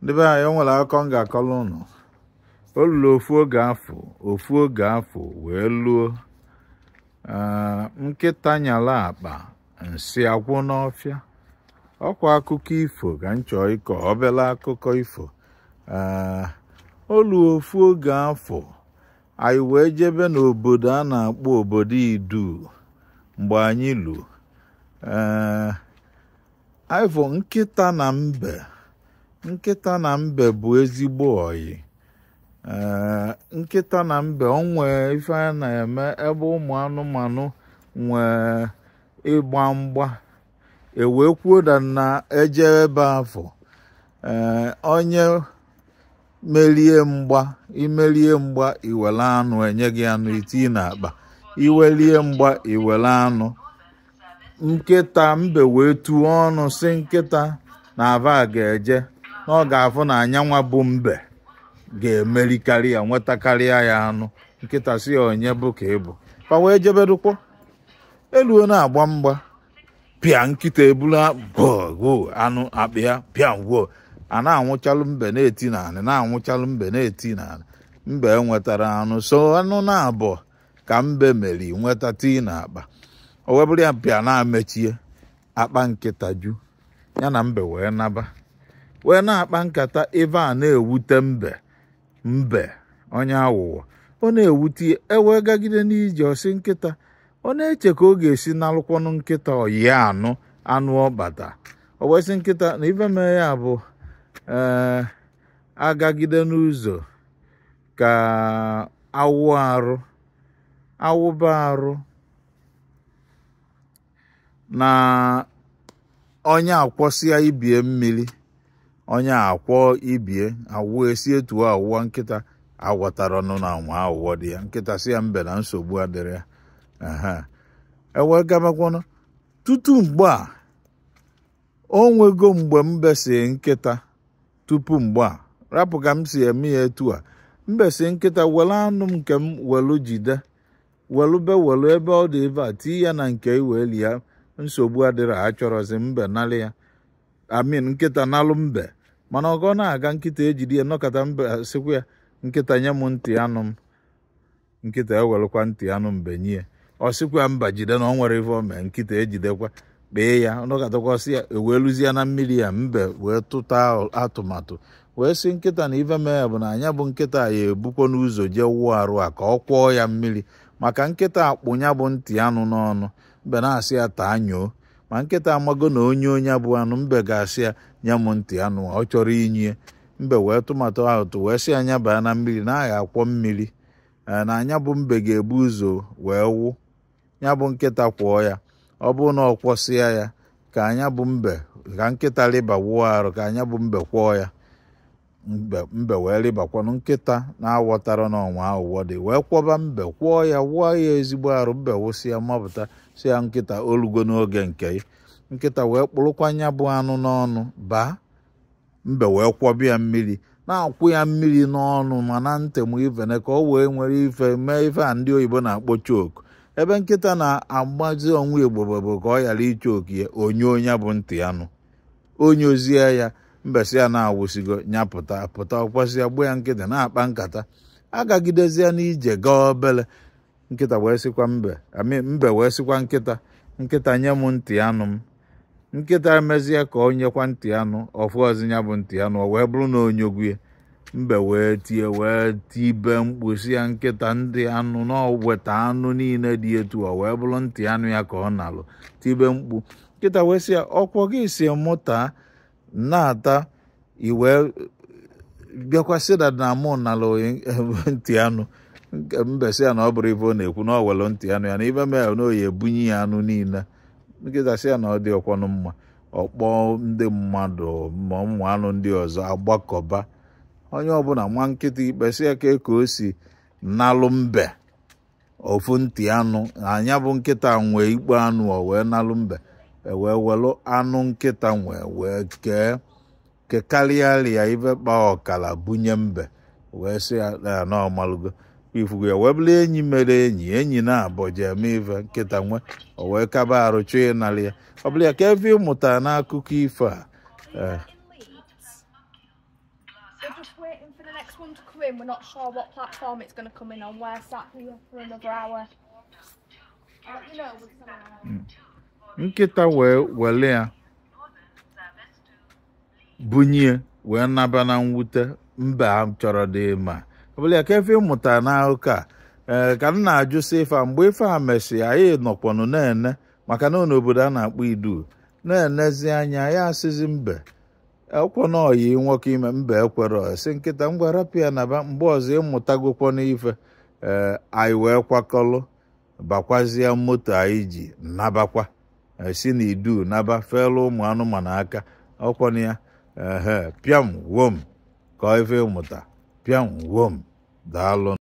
ndị be anyị o nwere akụkọ m ga-akọrọ ụnụ o luru ofu oge afụ ofu oge afụ wee luo ee, nkịta nyala akpa nsị agwụ n'ọfịa ọkwa akụkọ ifo ka m chọọ ịkọ obere akụkọ ifo ee, o luo ofu oge afụ anyị wee jebe n'obodo a na-akpọ obodo idu mgbe anyị lu ee, anyị fụ nkịta na mbe nkịta na mbe bụ ezigbo oyi ee nkịta na mbe o nwee ife a na-eme ebe ụmụ anụmanụ nwee ịgba mgba e wee kwuo na a na-eje ebe afụ ee onye merie mgba i merie mgba i were anụ e nye gị anụ i tii n'akpa i merie mgba i were anụ nkịta mbe wee tuo ọnụ sị nkịta na fa ga-eje na ọ ga-afụ na nyanwa bụ mbe ga-emerikarị ya nwetakarịa ya anụ nkịta sị ya onye bụ ka ị bụ fa wee jebedụkwọ e luo na-agba mgba pịa nkịta ebulu agwọ anụ akpa ya pịa ngwa a na-anwụchalụ mbe na-eti n'anị na-anwụchalụ mbe na-eti n'anị mbe nwetara anụ sọ anụ naabọ ka mbe meri nweta tii na akpa o wee bụrụ ya pịa na-amechie akpa nkịta eju ya na mbe wee naba wee na-akpa nkata ife a na-ewute mbe mbe onye awụwọ ọ na-ewute e wee gagide n'ije ọ sị nkịta ọ na-eche ka ọ ga-esi nalụkwọnụ nkịta oyi ya anụ anụ ọ kpata o wee sị nkịta na ife mee ya bụ ee a gagide n'ụzọ ka a wụọ arụ a wụba arụ na onye akwọsịa ibe ya mmiri onye akwọ ibe ya awụ e si etu a wụa nkịta amatarọnụ na nwa awụwọ dị ya nkịta sị ya mbe na nsogbu adịrọ ya e wee gabakwanụ tutu mgbe a o nwego mgbe mbe sị nkịta tupu mgbe a rapụ ka m si eme ya etu a mbe sị nkịta were anụ m nke m welu jide welube welu ebe ọ dị ebe a tii ya na nke i welie ya nsogbu adịrọ a chọrọzi mbe nalị ya I mean nkịta nalụ mbe mana oge na-aga nkịta ejide ya nọkọta mbe sịkwa ya nkịta nye m ntị anụ m nkịta ewelụkwa ntị anụ mbe nye ọ sịkwa mba jide na ọ nwere ife o mee nkịta ejidekwa kpee ya nọkọtakwa ọ sị ya e wee luzie na mmiri ya mbe wee tụta atụmatụ wee sị nkịta na ife mee bụ na nya bụ nkịta ya-ebukwanụ ụzọ jee wụọ arụ ka ọ kwọọ ya mmiri maka nkịta kpụ ya bụ ntị anụ n'ọnụ mbe na-asị ya taa nyoo ma nkịta amago na o nyoo nya bụ anụ mbe ga-asị ya nye m ntị anụ a, ọ chọrọ inye mbe wee tụmatụ ahụ tụ wee sị nya baa na mmiri na a ga-akwọ mmiri ee, na nya bụ mbe ga-ebu ụzọ wee wụ ya bụ nkịta kwọọ ya ọ bụrụ na ọ kwọsịa ya ka nya bụ mbe ka nkịta rịba wụọ arụ ka nya bụ mbe kwọọ ya mbe mbe wee rịbakwanụ nkịta na-awọtarọ na o nwe awụwọ dị wee kwọba mbe kwọọ ya wụọ ya ezigbo arụ mbe wụsịa mapụta sị ya nkịta o lugo n'oge nke ya nkịta wee kpụrụkwa nya bụ anụ n'ọnụ baa mbe wee kwọba ya mmiri na-akwụ ya mmiri n'ọnụ ma na ntị ma ive niine ka o wee nwee ike mee ife a ndị oyibo na-akpọ choke ebe nkịta na-agbazi onwe igbo bụ ka ọ ghara ịchoke ya o nyoo nya bụ ntị anụ o nyoozie ya mbe sị ya na a wụsịgo nya pụta pụta ọkwasị ya gbuo ya nkịta na-akpa nkata agagidezie n'ije gaa obele nkịta wee sịkwa mbe I mean mbe wee sịkwa nkịta nkịta nye m ntị anụ m nkịta emezie ka o nyekwa ntị anụ ọ fụrọzi ya bụ ntị anụ o wee bụrụ na o nyogo ya mbe wee tie wee tibe mkpu sị ya nkịta ndị anụ na o weta anụ niile dị etu a o wee bụrụ ntị anụ ya ka ọ nalụ tibe mkpu nkịta wee sị ya ọ kwa gị sị mụ taa na-ata i wee bịakwa sị na na mụ nalụ ntị anụ mbe sị ya na ọ bụrụ ife ọ na-ekwu na o were ntị anụ ya na ife mee na ọ ya-ebunye ya anụ niile nkịta sị ya na ọ dịrọkwanụ mma ọ kpọọ ndị mmadụ ma ụmụ anụ ndị ọzọ agbakọba onye ọbụla maa nkịta ikpe sị ya ka ka o si nalụ mbe ofu ntị anụ nya bụ nkịta nwe ikpo anụ o wee nalụ mbe e wee welụ anụ nkịta nwe wee kee kekarịarịa ibe kpa ọkara bunye mbe wee sị ya na ọ malụgo ifugo ya wee bụrụ enyi mere enyi enyi naabọ ji eme ife nkịta nwe o wee kaba arụ chọọ ịnarị ya ọ bụrụ ya kee ife ị mụta n'akụkọ ifo a We're just waiting for the next one to come in. We're not sure what platform it's going to come in on. We're sat here for another hour. I'll let you know when it's an hour. Nkịta wee were ya bunye wee naba na mwute mba m chọrọ dị ma ọ bụla ya kee ife ị mụtara n'akụkọ a ee ka m na-ajụ sị ife a mgbe ife a mesịrị anyị nọkwanụ na-ene maka na ọ n'obodo a na-akpọ idu na-enezi anya ya asịzi mbe ọkwọ na ọyị nwoke ime mbe ekwere sị nkịta ngwa rapịa naba mgbe ọzọ ịmụtagokwa n'ife ee anyị wee kwakọlụ bakwazie moto anyị ji nabakwa eh, si na idu naba felu ụmụ anụmanụ aka ọkwọna ya ehe pịam wom ka ife ịmụta pịam wom daalụ